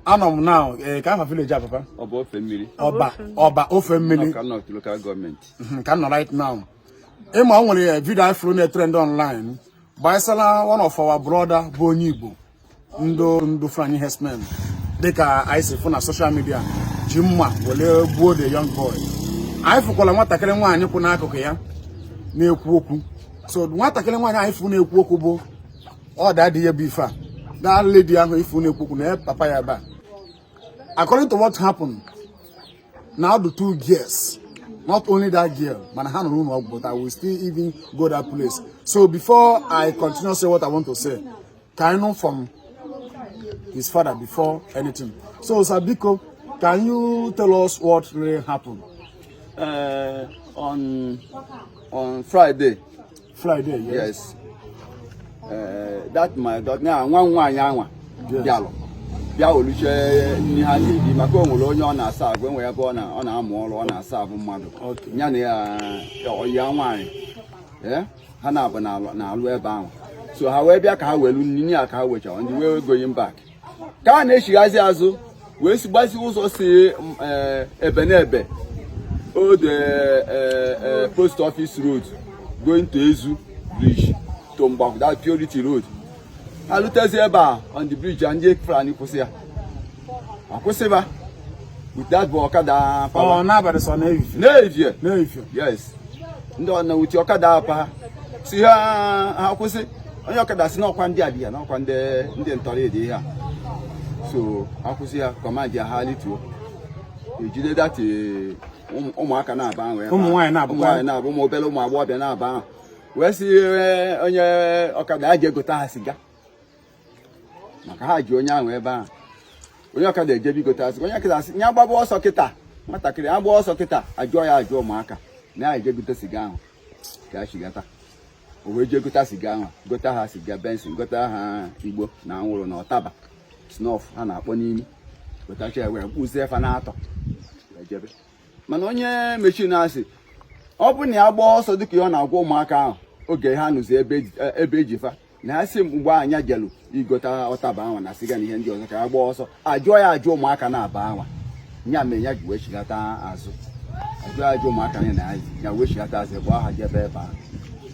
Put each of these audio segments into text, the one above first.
anọ m na eh, ka afa village a papa Ọba Ofemmili Ọba Ọba Ofemmili Awka North local government mhm, ka m nọ right now ị ma o nwere eh, video anyị fụrụ na-etrend online gbasara one of our brother bụ onye igbo ndị ndị Fulani herdsmen dịka anyị si fụ na social media ji mma were gbuo the young boy anyị fụkwara nwatakịrị nwaanyị kwụ n'akụkụ ya na-ekwu okwu so nwatakịrị nwaanyị anyị fụ na-ekwu okwu bụ ọ daddy ya bụ ife a that lady anyị fụ na-ekwu okwu nee papa ya ebe a according to what happened na ọ dụ two girls not only that girl mana ha nọ n'ụlọ ọgwụ but i will still even go that place so before i continue say what i want to say ka anyị nụ from his father before anything so sir biko can you tell us what really happened. Uh, on on friday Friday, yes. yes. Uh, that my daughter, na nwanne ya nwaanyị bịa iwelucha nni ha ga-eri maka o nwere onye ọ na-aserve enwe ebe ọ na-amụ ọrụ ọ na-aserve mmadụ ya na ya ọyị ya nwaanyị eh, ha naabọ na-alụ ebe ahụ so ha wee bịa ka ha welu nni ya ka ha wechara nni wee going back ka ha na-echighazi azụ wee sibazi ụzọ si eh, ebe n'ebe old eh, eh, post office road going to Ezu bridge to Mgbakwụ that Purity road ha lutezi ebe a on the bridge ndị Fulani kwụsị ya akwụsịba with that bụ ọkada pawa n'evie yes ndị ọna with ọkada pa ha sị ha ha kwụsị onye ọkada sị na ọkwa ndị a dị ya na ọkwa ndị ndị ntọrọ dị ihe a so a kwụsị ya command ya ha lituo e jide that ụmụaka naabọ ahụ ụmụ nwaanyị naabọ ụmụ obere ụmụ agbọghọbịa naabọ ahụ wee sị onye ọkada ya jee gota ha siga maka ha ji onye ahụ ebe ahụ onye ọkada ejebe igota asị onye ọkada asị ya gbaba ọsọ kịta nwatakịrị agba ọsọ kịta ajụọ ya ajụ ụmụaka na ya jee gote siga ahụ ka ya chigata o wee jee gota siga ahụ gota ha siga Benson gota ha igbo na anwụrụ na ọtaba snuff ha na-akpọ n'imi gotacha ya wee buzie fa naatọ wee jebe mana onye machine asị ọ bụrụ na ya gbaa ọsọ dịka ihe ọ na-agwa ụmụaka ahụ oge ha nọzi ebe e ji fa na asị mgbe a nya jelu igota ọtaba anwa na siga na ihe ndị ọzọ ka ya gbaa ọsọ ajụọ ya ajụ ụmụaka naabọ anwa nya mere ya ji wee chigata azụ ajụọ ya ajụ ụmụaka na ya ya wee chigata azụ gbaa ha jebe ebe ahụ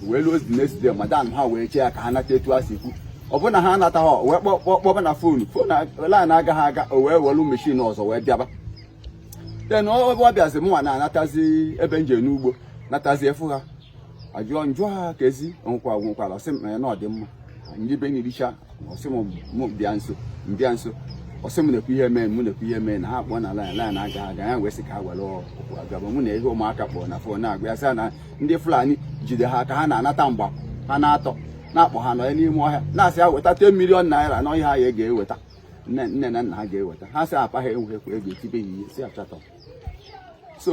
wee luozi next day madam ha wee chee ya ka ha nata etu ha si kwu ọ bụrụ na ha anatahọ o wee kpọba na phone phone line agaghị aga o wee welu machine ọzọ wee bịaba then ọ bịazi mụnwa na-anatazi ebe m je n'ugbo natazi afụ ha ajụọ njụ ha ka ezi nwekwa nwekwara ọ sị m na ọ dị mma ndị be na-ericha ọ sị m bịa nso m bịa nso ọ sị m na-ekwu ihe mee m na-ekwu ihe mee na ha kpọọ na lain lain aga aga ya wee sị ka ha were ụkwụ gaba mụ na ihe ụmụaka kpọrọ na fon na-agwa ya sị na ndị fulani jide ha ka ha na-anata mgba ha n'atọ na a kpọ ha nọ ya n'ime ọhịa na a sị ha weta 10 milion naira na ọhịa ya ga-eweta nne na nna ha ga-eweta ha sị papa ha enweghịkwa ego e tibe ya ihe sị ya shut up so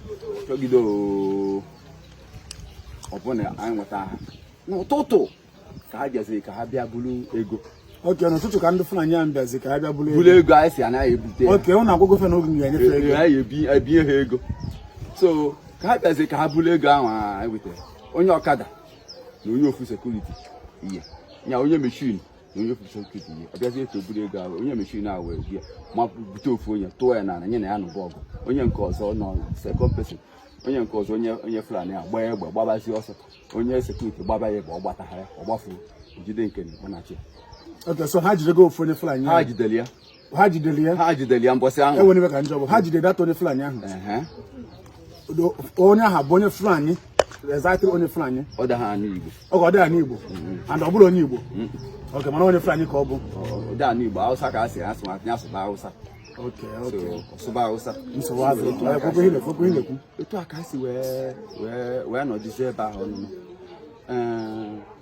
chọgide ọ bụ na anyị nweta ha n'ụtụtụ ka ha bịaziri ka ha bịa buru ego okay n'ụtụtụ ka ndị Fulani ahụ bịazi ka ha bịa buru ego ego anyị si anaghị ebute okay ụnụ agwụgwọ fe na oge ga-enyefe e, ego anyị ebunye ha ego so ka ha bịazi ka ha buru ego ahụ anyị wetara onye ọkada na onye ofu sekuriti ihe ya onye mechin onye ofu sekuriti ya ọ bịazie to buru ego ahụ onye mechin ahụ wee bịa mabute ofu onye tụọ ya n'ana nya na ya nụba ọgụ onye nke ọzọ nọ sekọnd pesin onye nke ọzọ onye onye fulani a gbaa egbe gbabazi ọsọ onye sekuriti gbaba ya egbe ọ gbataha ya ọ gbafuo jide nke na-ekpanachi ya Okay, so ha jidego ofu onye Fulani ahụ. ha jidere ya ha jidere ya ha jidere ya mbọsị ahụ enwere iwe ka njọ bụ ha jidere that onye fulani ahụ onye ahụ bụ onye fulani exactly onye fulani ọ da anụ igbo ọ ga ọ da anụ igbo mm-hmm. and ọ bụrọ onye igbo mm-hmm. ok mana onye fulani ka ọ bụ ọ da anụ igbo hausa ka a sị asụ ma tinye asụba hausa ok ok sụba hausa nsogbu azụ kwekwe ihe na-ekwekwe ihe na-ekwu etu a ka a si wee wee wee nọdụzie ebe ahụ ọnụnụ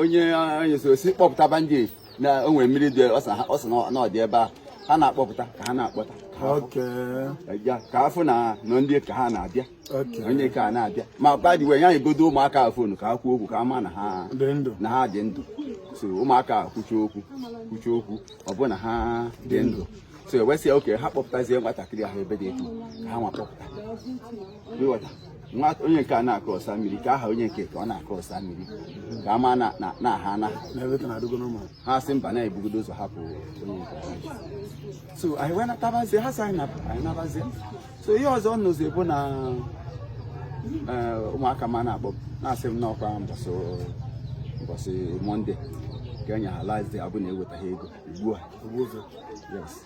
onye onye so si kpọpụta bandage na o nwere mmiri dị ọ sị na ọ dị ebe a ha na-akpọpụta ka ha na-akpọta ka a fụ na nọ ndị ka ha na-abịa onye ka na-abịa ma badi wee nyegodu ụmụaka a fonu ka ha kwuo okwu ka a ma na ha dị ndụ so ụmụaka a kwuchaa okwu kwuchaa okwu ọ bụ na ha dị ndụ so e wee sị ha okay ha kpọpụtazie nwatakịrị ahụ ebe dị etu ka ha nwa kpọpụta nwa onye nke a na-akụ ọsa mmiri ka aha onye nke ka ọ na-akụ ọsa mmiri ka a ma na ha ana ha sị mba na e bugodu ụzọ hapụ onye nke so anyị wee natabazie ha sị anyị nabazie so ihe ọzọ nụzi bụ na eh, ụmụaka m na-akpọ m na-asị m na ọ kwa mbọsị monde ka e nye ha last ọ bụ na e wetaghị ego e gbuo ha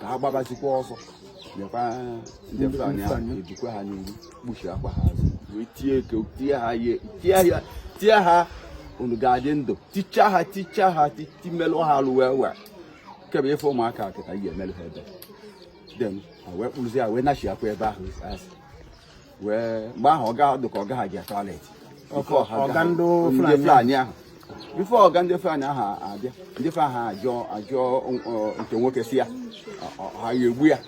ka ha gbabazikwa ọsọ nyekwa ndị Fulani ahụ esikwa ha n'ihu kpuchiakwa ha azụ wee tie eke tie ha ihe tie ha tie ha unu ga-adị ndụ ticha ha ticha ha timelụ ha alụ wee wee kebe ị fụ ụmụaka kịta i meelụ ha ebele then wee kpụrụzi ya wee nachiakwa ebe ahụ asị wee mgbe ahụ ọ ga-adị ka ọga ha je toilet ọga ndị Fulani ahụ before ọga ndị Fulani ahụ abịa ndị Fulani ahụ ajụọ ajụọ nke nwoke sị ya ha ya egbu ya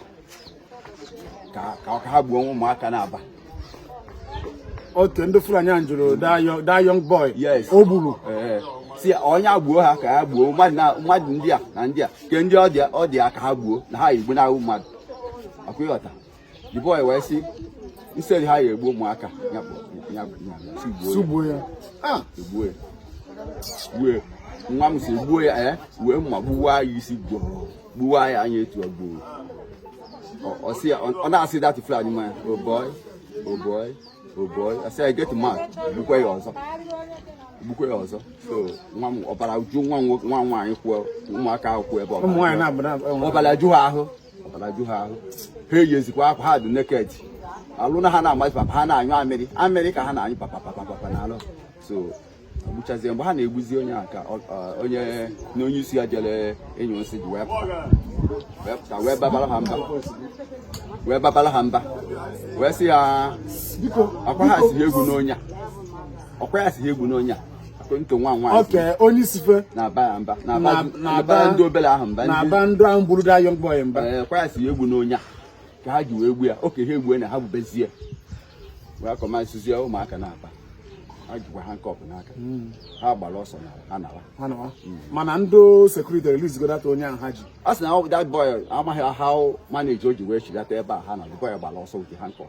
ka ọ ka ha gbuo ụmụaka naabọ okay ndị Fulani ahụ jụrụ that young boy o gburu sị onye agbuo ha ka ha gbuo mmadụ ndị a na ndị a ke ndị ọ dị ya ka ha gbuo na ha igbu na-ahụ mmadụ ọkwa ị ghọta the boy wee sị instead ha ya egbu ụmụaka sị gbuo ya ah! egbuo ya gbue nwa m sị gbuo ya ya eh? wee mma gbuwa ya isi gboo gbuwa ya anya etu o gbuo ọ na-asị that Fulani man oh boy oh boy oh boy asị ya get mad gbukwe ya ọzọ gbukwe ya ọzọ so nwa m ọbara ju nwa nwaanyị kwuo ụmụaka ahụ kwuo ebe ọbara ju ha ahụ ọbara ju ha ahụ ha eyizikwa akwa ha dị naked alụ na ha na-amazi papa ha na-anyụ amịrị amịrị ka ha na-anyụ papa papa papa na alụ so gbuchazie mgbe ha na-egbuzi onye a ka onye na onye isi ha jere ịnyụ nsị ji wee pụta wee babara ha mba wee babara ha mba wee sị ya ọkwa ya sị egbuna onye a ọkwa ya sị egbuna onye a nke nwa nwoke onye isi fa na-aba ya mba Na- na- na-aba ndị obere ahụ mba ndị na-aba ndị ahụ gburu that young boy mba ee ọkwa ya sị egbuna onye a ka ha ji wee gbu ya okay ha egbue na ha gbubezie wee kọmasizie ụmụaka naabọ ha jikwa handcuff n'aka ha gbara ọsọ na ha nara ha nawa. mana ndị security releasego that onye ahụ ha ji a sị na that boy amaghị how manage o ji wee chigata ebe a ha na the boy gbara ọsọ with the handcuff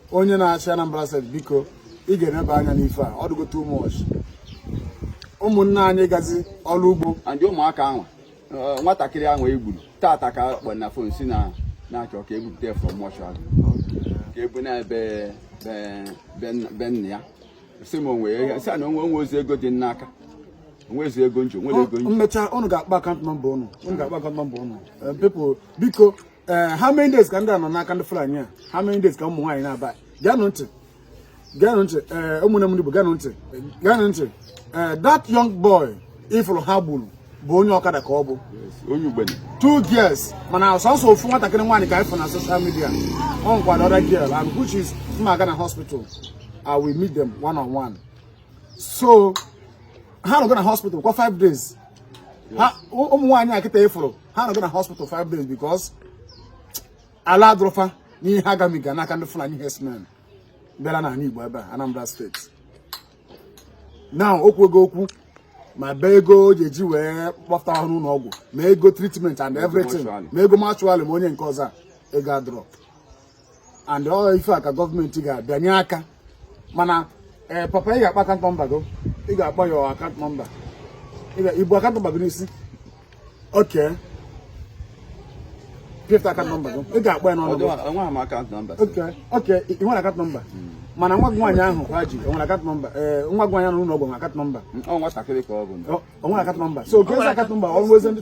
onye na-achị Anambra State biko ị ga-eneba anya n'ife a ọ dịgo too much ụmụnne anyị gazi ọrụ ugbo and ụmụaka ahụ eh, nwatakịrị ahụ e gburu tata ka kpọ na phone sị na na-achọ ka e bupụta ya from mortuary ka e buna ebe be nna ya sị m onwe ya sị na o nwe o nwezi ego dị m n'aka o nwezi ego m ji o nwere ego m ji mmecha ụnụ ga-akpa account number ụnụ ụnụ ga-akpa account number ụnụ eh, biko ee eh, how many days ka ndị a nọ n'aka ndị Fulani a how many days ka ụmụ nwaanyị naabọ geenụ ntị geenụ ntị ee eh, ụmụnne m ndị Igbo geenụ ntị geenụ ntị ee eh, that young boy ị fụrụ ha gburu bụ onye ọkada ka ọ bụ two girls mana sọsọ ofu nwatakịrị nwaanyị ka ị fụ na social media o nwekwa the other girl and which is m ma-aga na hospital I will meet them one on one so ha nọgo na hospital kwa five days ụmụ nwaanyị a kịta ị fụrụ ha nọgo na hospital five days because alụ adịrọ fa n'ihe ha gabiga n'aka ndị Fulani herdsmen bịara n'ala Igbo ebe a Anambra State now okwu ego okwu maybe ego ọ ya-eji wee kpọpụta ha n'ụlọ ọgwụ ma ego treatment and everything ma ego mortuary ma onye nke ọzọ ego adịrọ and ọ ife a ka gọọmenti ga-abịanye aka mana ee eh, papa ị ga-akpọ account number gị ị ga-akpọ ya account number i bu account number gị n'isi okay pịpụta account number gị ị ga-akpọ ya n'ọnụ okay i nwere account number hmm. mana nwa gị nwaanyị ahụ kwa ji o nwere account number ee nwa gị nwaanyị ahụ n'ụlọ ọgwụ nwere account number o nwere account number so gezi account number ọrụ ezi ndị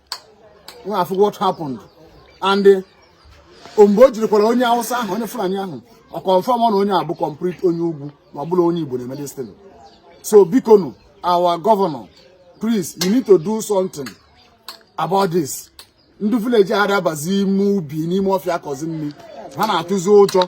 nwa what happened and eh, mgbe o jirikwara onye awụsa ahụ onye fulani ahụ ọ confirm na onye a bụ complete onye ugwu na ọ bụrọ onye igbo na-eme this thing so biko nu our governor please you need to do something about this ndị village ha ada abazi ime ubi n'ime ọfịa akọzi nri ha na-atụzi ụjọ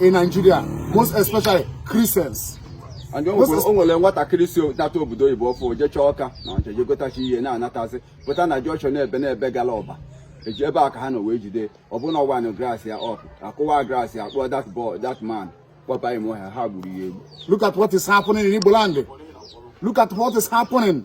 in Nigeria, most especially Christians. and o nwere nwatakịrị si nata obodo oyibo ọfụụ jechaa ọka na ọcha jegotachi ihe na-anatazi pụta na junction n'ebe n'ebe gala ọba eji ebe a ka ha nọ wee jide ọ bụ na ọ wind glass ya up akụwaa glass ya kpụọ that boy that man kpọba ime ọhịa ha gburu ya egbu look at what is happening in Igbo land look at what is happening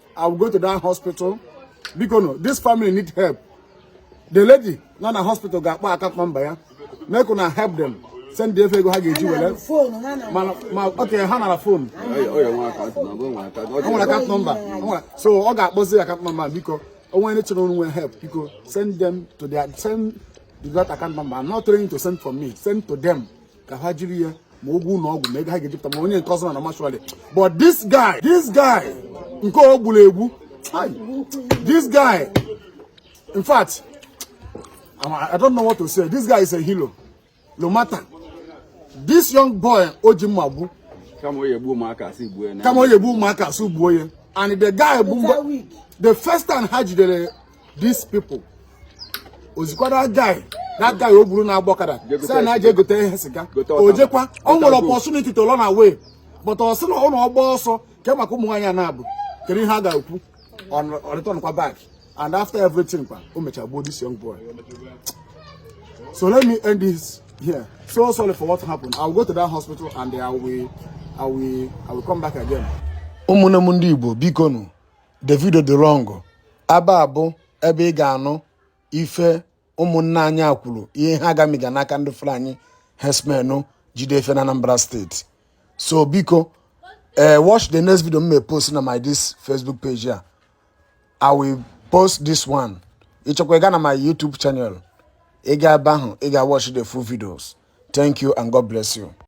I will go to that hospital. Because no, this family need help. The lady nọ na hospital ga-akpọ account number ya. Make una help them. Send the ego ha ga-eji were. Mana ma okay ha nara phone. O nwere account number. So ọ ga-akpọzi account number biko. O nwere ndị chọrọ inye help biko send them to their send that account number. I'm not trying to send for me. Send to them. ka ha jiri ya ma ụgwọ ụlọ ọgwụ ma ego ha ga-ejipụta ma onye nke ọzọ na mortuary but this guy this guy nke o gburu egbu this guy in fact I don't know what to say this guy is a hero no matter this young boy o ji mma gbu kama ọ ya-egbu ụmụaka a sị gbuo ya and the guy bụ the first time ha jidere these people o zikwara guy that guy o gburu na-agba ọkada sị ya je gote ihe siga o jekwa o nwere opportunity to run away but ọ sị na ọ na ọ gbaa ọsọ kee maka ụmụ nwaanyị naabọ kedu ihe a ga-ekwu ọ return kwa back and after everything kwa o mechara gbuo this young boy so let me end this here so sorry for what happened i will go to that hospital and i will i will i will come back again ụmụnne m ndị igbo biko nụ the video dị long aba abụ ebe ị ga-anụ ife ụmụnna anyị a kwuru ihe ha gamiga n'aka ndị Fulani herdsmen jide fa na Anambra State so biko ee eh, watch the next video m ya-post na my this Facebook page a I will post this one ị chọkwa ịga na my YouTube channel ị gaa ebe ahụ ị ga-watch the full videos thank you and God bless you